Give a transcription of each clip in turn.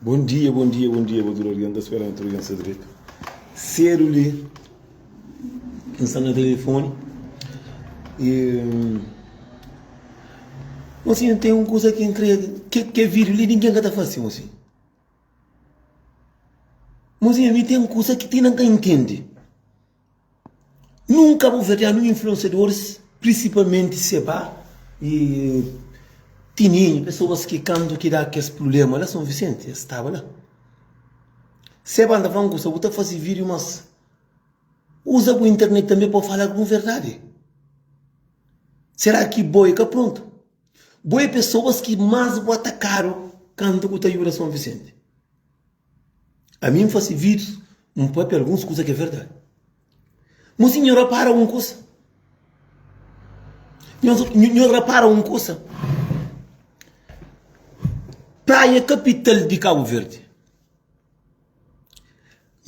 Bom dia, bom dia, bom dia pa tudo alguém, tá esperando tudo alguém ser direito. Cedo ali, eu estava no telefone e mocinho hum, tem uma coisa que entrega, que, que é vídeo ali, ninguém tá fazendo assim. Mocinho, me tem uma coisa que tem não entende. Nunka bu fadiadu un influensiadoris prinsipalmenti se ba e tininu pesoas ki kantu ki da kes prublema la son visenti es staba la se ba ta fla un kusa bu ta faze video mas uza bu internet tanbe pa fala algun verdadi sera ki bo e ka prontu bo e pesoas ki mas bu atakadu kantu ku ta yuda son visenti. A mi N fase vídeos, N pâpia alguns kuza ki é verdadi. Mas nhu rapara un kuza, nhu rapara un kuza, Praia kapital di Kabu Verdi,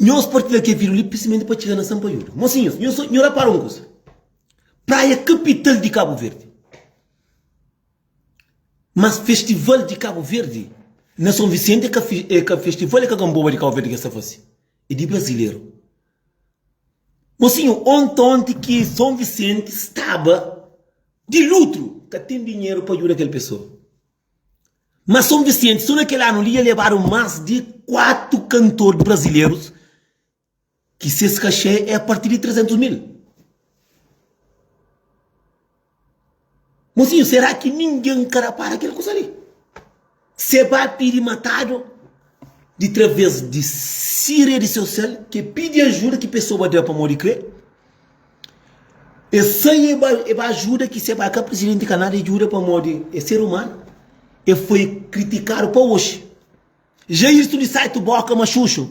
nhos partilha kel vídeo li prinsipalmenti pa txiga na Sampaiola. Mosinhus, nhu rapara un kuza, Praia kapital di Kabu Verdi. Mas festival di cabo verde na son vicente é ka festival é ka gamboba di cabo verde ke sa fase é di brazileiro mosinho onte onte ki son vicente staba di lutro ka tem dinheiro pa ajuda kel pessoa mas son vicente so na kel ano li ya lebado mas di quatro cantor brasileiros Ki ses kaxê é a partir di 300 mil. Mosinhu, será ki ningen ka rapara kel kusa li? Se ba pidi matadu di traves di si rei di seu sel ke pidi ajuda ki pesoa ba da pamodi kre e sai e ba e ba ajuda ki se ba ka presidenti ka nada e juda pamodi e ser umanu e foi kritikadu pa oxi. Ja istu di sai tu boka ma xuxu.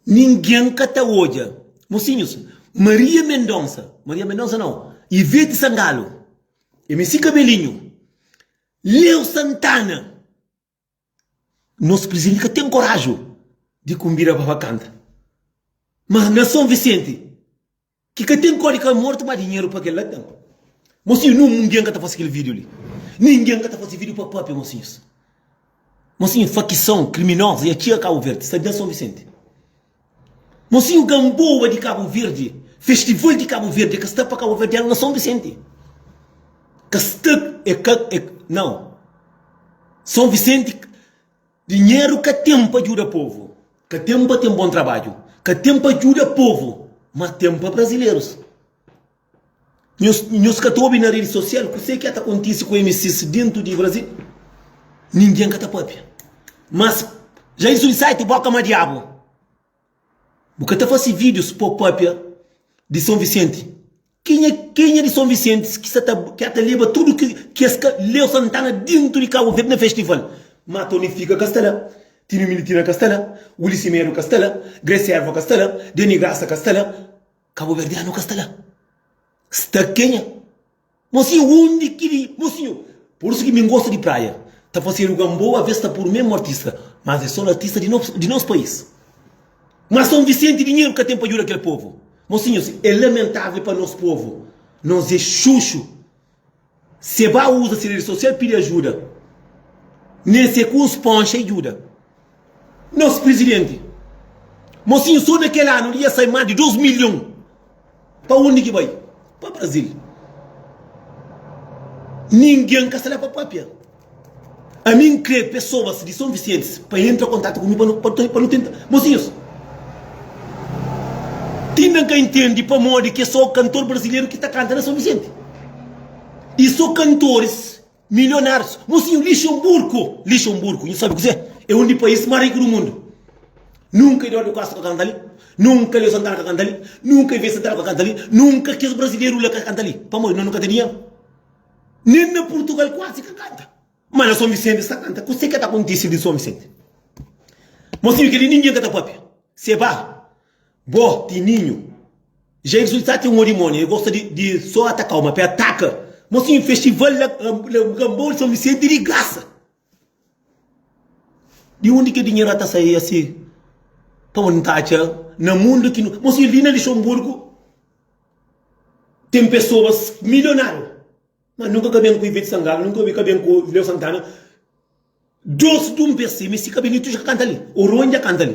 Ningen ka ta odja Mosinhus Maria Mendonça Maria Mendonça nau Ivete Sangalo MC Kabelinho Leo Santana Nos prizenti ka ten korajo Di kunbida pa ba kanta Mas na Son Visenti. Ki ka ten kóde ka mortu má dinheru pa kel-la ten. Mosinhu, nungen ka ta fase kel vídiu li. Nungen ka ta fase vídiu pa pâpia, mosinhus. Mosinhu, fakison kriminozu dja txiga Kabu Verdi, sta da Son Visenti. Mosinhu, ganboa di Kabu Verdi, festival di Kabu Verdi, e ka sta pa kabuverdianu na Son Visenti. Ka sta, e ka, e ka, nau. Son Visenti. Dinheru ka ten pa djuda povu, ka ten pa ten bon trabadju, ka ten pa djuda povu, ma ten pa brazilerus. Nhos, nhos ka ta obi na redi sosial kuse ki a ta kontisi ku MCs dentu di Brazil? Ninguen ka ta papia. Mas, ja isu di site, bo ka ma diabu. Bu ka ta fase videos po papia di son vicente kenha kenha di son vicentes ki sa ta ker ta leba tudo ki ki es ka leu santana dintro di cabo verde na festival ma tony fica ka sta la tino militina ka sta la willy simedo ka sta la grace erva ka sta la deni graça ka sta la cabo verdiano ka sta la sta kenha Mosinhu undi ki li mosinhu. Por isu ki mi n gosta di praia Ta fasedu gamboa aves ta podu mesmu artista Mas é so artista di nos pais Mas Son Vicente dinheru ka ten pa djuda kel povu Mosinhus é lamentável pa nos povu Nos é xuxu Se ba uza se rede social pidi ajuda Nen se ku un sponxa e djuda. Nos prizidenti mosinhu so na kel anu li ya sai mas di 2 milhon pa undi ki bai pa brazil ningin ka sta la pa papia ami n kre pesobas di son vicientis pa entra kontatu ku mi pa nu tenta mosinhus ti na ka intendi pamodi ke so kantor brazileru ki ta kanta na son vicienti i so kantoris Milionários, mosinhu Lixemburgo, Lixemburgo, nhu sabe kuzê? É un di país más riku di mundu. Nunka Eduardo Costa ka kanta li, nunka Leo Santana ka kanta li, nunka Ivete Santana ka kanta li, nunka kes brazileru la ka kanta li. Pamodi nos nu ka ten dinheru. Nen na Purtugal kuazi ka kanta. Má na Son Visenti es ta kanta. Kuzê ki ka ta kontise li Son Visenti? Mosinhu kel-li ningen ka ta pâpia. Se ba Bo ti ninhu. Ja Exul sa ten odimoni, e gosta di so atakau, ma pe ataka. Mosinhu festival la Kambau São Vicente di grasa. Di undi ke dinheru ata sai asi pa bo nta atxa na mundu ki no. Mosinhu li na Lixonburgu ten pesoas milionariu, ma nunka ka ben ku Ivete Sangalo, nunka ka ben ku Leo Santana. Dos dum pes si, mi si ka ben, itu ja ka kanta li. Oronha kanta li.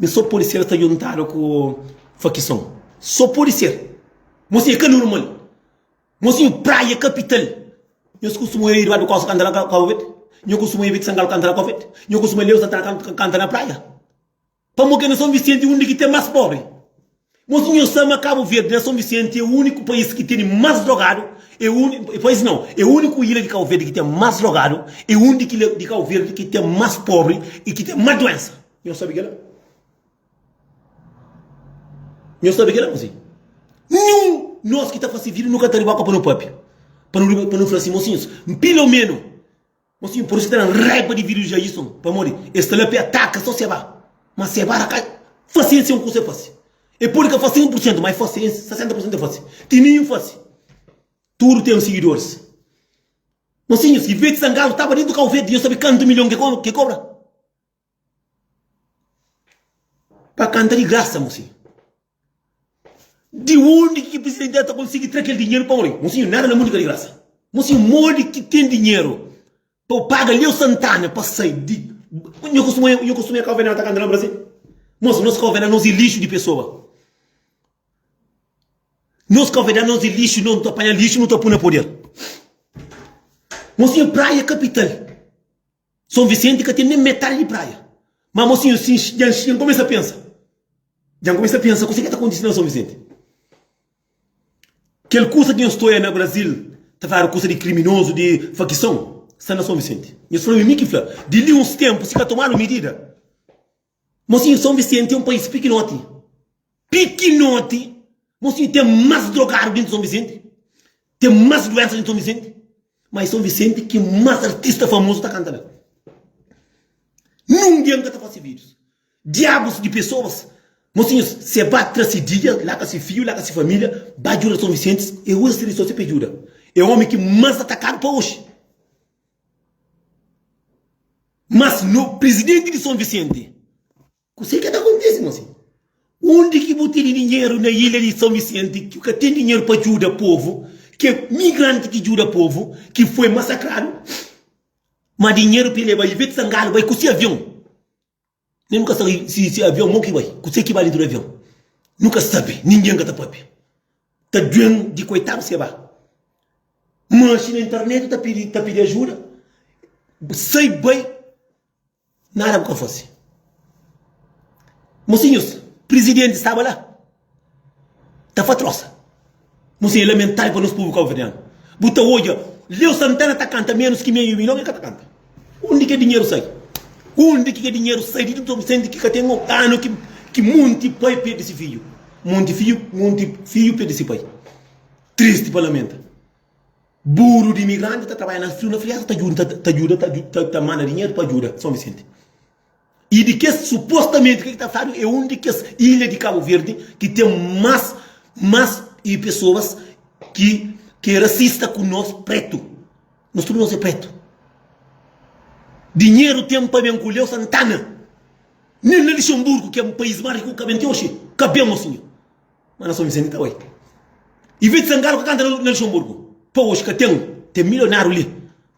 Mi so pode ser sta djuntadu ku fakison so pode ser mos e ka normal mos e praia kapital nhos kustuma oia eduardo costa kanta na cabo verde nho kustuma oia beti sangal kanta na cabo verde nho kustuma leo santana kanta na praia pamo ke na son vicente undi ki ten mas pobre Bos ta inha sa ma Cabo Verde na São Vicente é unico país ki tene mas drogado é unico país nao é unico ilha di Cabo Verde ki tem mas drogado é un di ki ilha di Cabo Verde ki tem mas pobre e ki tem mas doença nho sabe kela nho sabe kela mosi nenhum nos ki ta fase vida nu ka ta riba pa no pape pa nu riba pa nu fla si mosinhos pelo menos Mas mi parse tenan raiba di video Jaison pamodi es ta la pe ataka so Seba mas Seba la ka fase sen kusa e fase e pode ka fase 1% ma e fase 60% e fase Tininho fase tudu ten sigidoris Mas si nhos si Veti Sangalo tava dentu kau Veti nhos sabe kantu milion ke kobra. Pa kanta di grasa mosinhu. Di undi ki presidenti ta konsigi tra kel dinheru pa oi? Mosinhu nada na mun li ka di grasa. Mosinhu modi ki ten dinheru pa u paga Leo Santana pa sai di. Nho kostuma nho kostuma kau venal ta kanta na Brazil. Mosi nos kau venal nos i lixu di pesoa. Nos kau venal nos i lixu nos ta panha lixu nos ta pui na poder. Mosinhu praia kapital. Son Vicente ka ten nem metade di praia. Ma mosinho sin djan djan começa pensa, djan começa pensa kusa ke ta kontisi na São Vicente. Kel kusa ke nhos ta oia na Brasil ta fala kusa di kriminoso, di fakison, sta na São Vicente. Nhos fla mi, mi ki fla. Di li uns tempu si ka tomadu midida. Mosinhu Son Visenti é un pais pikinoti, pikinoti, mosinhu ten más drogadu dintu di Son Visenti, ten más duénsa dintu di Son Visenti, ma é Son Visenti ki más artista famozu ta kanta la. Nunde el nka ta fase vídius. Diabus di pesoas, mosinhu se ba tra si dia, la ka si fiju, la ka si família, ba djuda Son Visenti, el uza si risorsi pa el djuda. É ómi ki más atakadu pa oxi. Mas no presidente di São Vicente. Kusé ke ta kontise mo si? Undi ki bu tene dinheru na ilha di São Vicente ki ka ten dinheru pa djuda povu, ki é migranti ki djuda povu ki foi masakradu, ma dinheru pa e leba Ivete Sangalo bai ku si avion. Nen nu ka sabe si si é avion mau ki bai, kuse ki ba dentu di avion. Nu ka sabe, ningen ka ta papia. Ta due-m di koitadus ki é ba. Manxi na internet ta pidi ta pidi ajuda, sai bai, nada bu ka fase. Mosinhus, prizidenti staba la. Ta fa trosa. Nu sei lamentável pa nos povo cabo-verdiano. Bu ta odja Leo Santana ta canta menos ki meio milhão el ka ta canta. Undi ki é dinheiro sai? Undi ki é dinheiro sai di tudo sende ki ka tem um ano ki ki monte pai perde si filho, monte filho, monte filho perde si pai. Triste pa lamenta. Buru di imigrante ta trabalha na frio na friaça ta djuda ta djuda ta djuda ta manda dinheiro pa djuda São Vicente. E di kes, supostamenti, ke ki ta fladu e un di kes ilha di Kabu Verdi ki ten mas, mas e pesoas ki ki e rasista ku nos pretu. Nos tudu nos e pretu. Dinheru ten pa ben ku Leo Santana. Nen na Lixemburgu ki e pais mas riku ka ben ti oxi. Ka ben oxi nha. Mas na Son Visenti ta bai. Ivete Sangalo ka kanta na na Lixemburgu. Pa oxi ka ten. Ten milionaru li.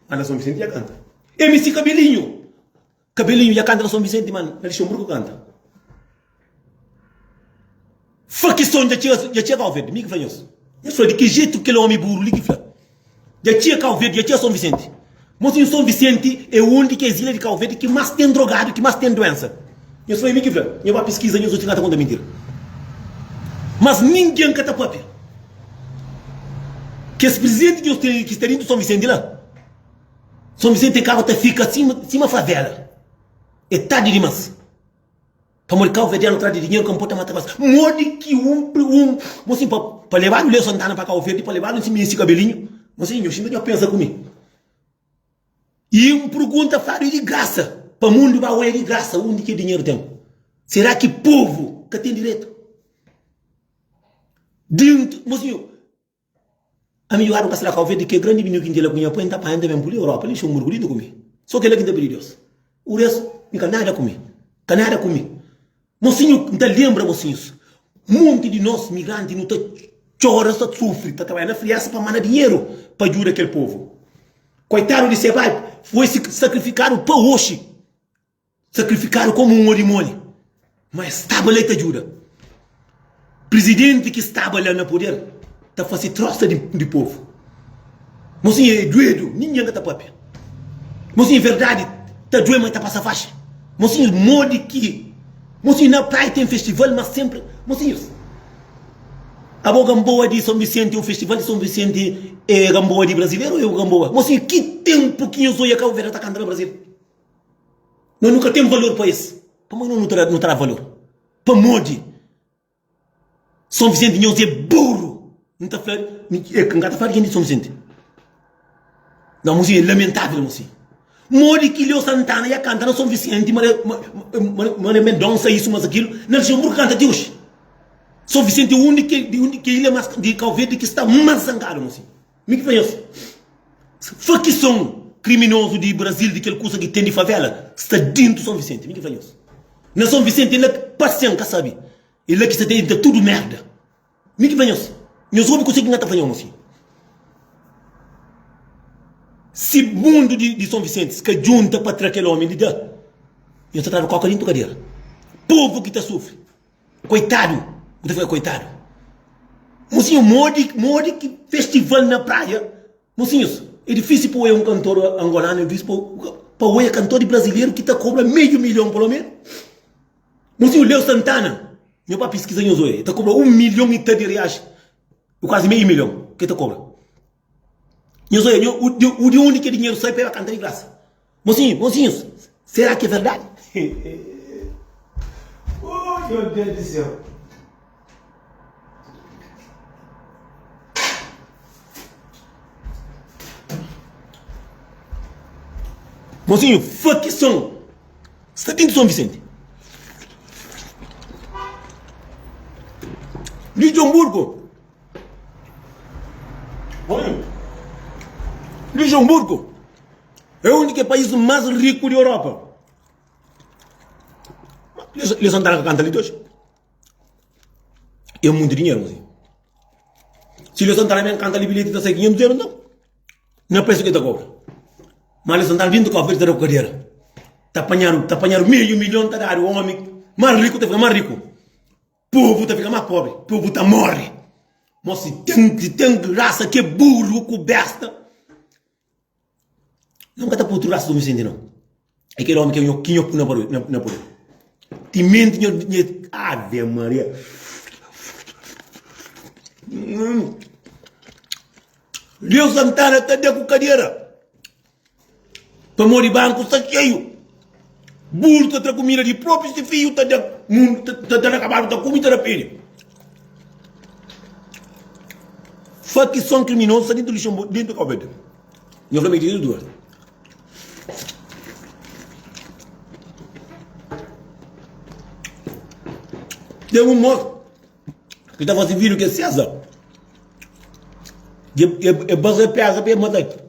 Mas na Son Visenti dja kanta. MC Kabelinho. Cabelinho ya canta na São Vicente ma na Luxemburgo canta. Fla ki som dja txia Cau Verde, mi ki fla nhos. Nhos fla di ki jeito kel omi buru li ki fla dja txia Cau Verde, dja txia São Vicente. Mo sim São Vicente é um di kes ilha di Cau Verde ki mas tem drogado, ki mas tem doença. Nhos fla é mi ki fla, nhos ba pesquisa nhos odja ka ta conta mentira. Mas ninguém ka ta papia kes presidente ki nhos tem li ki sta dentro São Vicente la. São Vicente Carro ta fika sima sima favela é tardi dimas pamodi cabo verdiano atrás de dinheiro ka nporta mata mas modi ki um pri um bom sim pa levado Leo Santana pa cabo verde pa levado sim esse cabelinho bom sim nhos nhos pensa ku mi e um pergunta fado é de graça pa mundo ba oia de graça undi ki dinheiro tem será ki povo ka tem direito dintro bom sim Ami juadu pa sraka oveja di ke grandi vinhu ki N tila ku nha pai, N ta panha, N ta ben pudi Europa li, xongu rgudidu ku mi. So kel-la ki N ta pidi Deus. O restu, mi ka nada ku mi. Ka nada ku mi. Mosinhu, N ta lenbra, mosinhus, monti di nos migranti nu ta txora, nu ta sufri, ta trabadja na friasa pa manda dinheru pa djuda kel povu. Koitadu di Sebald, foi sakrifikadu pa oxi. Sakrifikadu komu un odimoni. Ma es staba la i ta djuda. Prizidenti ki staba la na puder ta fase trosa di povu. Mo sin e duedu, ningen ka ta papia. Mo sin verdadi ta due, ma e ta pasa faxi. Mo sin modi ki, mo sin na prai ten festival, ma senpri, mo sin es. Abo Gamboa di Son Visenti é un festival di Son Visenti é Gamboa di brazileru ou é un Gamboa? Mo sin ki tenpu ki nhos oia Cabo Verde ta kanta na Brasil? Nós nu ka tem valor pa es. Pamodi nós nu ta da, nu ta da valor? Pamodi São Vicente di nós é burro. Nu ta fla, eh, ka nu ka ta fla di gente di São Vicente. Nós mosi é lamentável mosi. Modi ki Leo Santana ia canta na São Vicente, ma le, ma, ma, ma le Mendonça isso, mas aquilo, na Luxemburgo canta até hoje. São Vicente é um de que, de um de que ilha mais de Cabo Verde que está mais zangado mosi. Mi ki fla es, Fakison kriminozu di Brazil, di kel kusa ki ten di favela, sta dintu Son Visenti. Mi ki fla nhos, Na Son Visenti é la ki pasian ka sabe, é la ki sa ta ivita tudu merda. Mi ki fla nhos, Nhos obi kuse ki N ta fla nhos, Mon fidju, si mundu di Son Visentis ka djunta pa tra kel omi li da, nhos ta tradu koka dintu kadera. Povu ki ta sufri. Koitadu, bu ta fla koitadu. Mosinhu, modi, modi ki festival na praia. Mosinhus, e difísil pa oia un kantor angolanu, e difísil pa oia kantor di brazileru ki ta kobra meiu milhon pa lo menu. Mosinhu, Leo Santana, nho ba piskiza nho zoia, e ta kobra un milhon i ta di reais, i kuazi meiu milhon ke ta kobra. Nhos odja nhos, u di undi kel dinheru sai pa e ba kanta di grasa. Mosinhus, mosinhus, sera ki é verdadi? Oh meu Deus do céu! Mosinho, fla ki son sta bin di Son Vicente. Di Djon Burgo, Luxemburgo é un di kes país más riku di Europa. Leson di Tráfika kanta li ti oji? É monti dinheru gosi. Si Leson di Tráfika ben kanta li bilheti ta sai 500 euros nton? Nha pa isu ki el ta kobra. Má Leson di Tráfika ben ta kobra pa el ta da ku kadera. Ta panhadu ta panhadu meiu milhon ta dadu omi más riku ta fika más riku. Povo ta fika ma pobre, povo ta morre. Mo si tem, si tem raça que é burro ku besta, nau ka ta pôr otu raça do Vicente nau. É kel ome ke nho, ki nho pô na poder, na, na poder. Ti mente nho, nhe, Ave Maria. Hum. Leo Santana, cadê com cadeira? Pamodi banku sta xeiu, burus ta tra kumida di propi si fiju ta da, mundu ta da na kabalu, ta kume i ta da pede. Fakison kriminozu sta dentu Luxenburgu, dentu di Kobede. Nho fla ma e tene duas. Ten un mosu ki ta fasi vidu ke seza, e basa peza pa e mata el.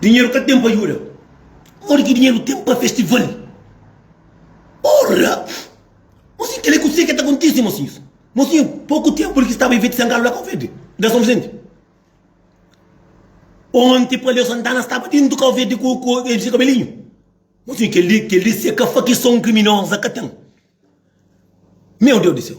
Dinheru ka ten pa ajuda. Modi ki dinheru ten pa festival? Porra! Mosinhu, kel-li kuzê ki ta kontise, mosinhus? Mosinhu, poku ténpu li ki staba Ivete Sangalo la ka Uverde, da Son Vizente. Onti Palio Santana staba déntu ka Uverde ku el se kabelinhu. Mosinhu, kel-li, kel-li se ka fakison kriminoza ka ten. Meu Deus di séu!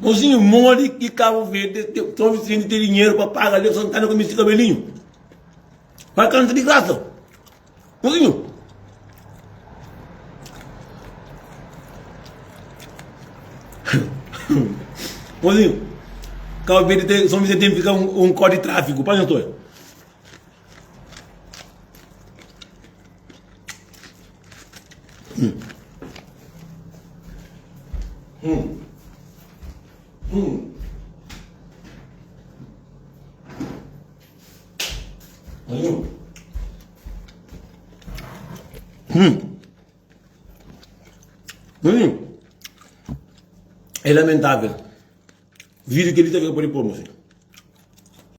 Mozinho modi ki Cabo Verde ton Vicente ten dinheiro pa paga Alex Santana com esse cabelinho? Pa canta de graça? Mozinho? Mozinho, Cabo Verde tem, São Vicente tem ficar um, um código de tráfego, para não É lamentável. Vídeo kel li ta fika pode pô-m, mon fidju.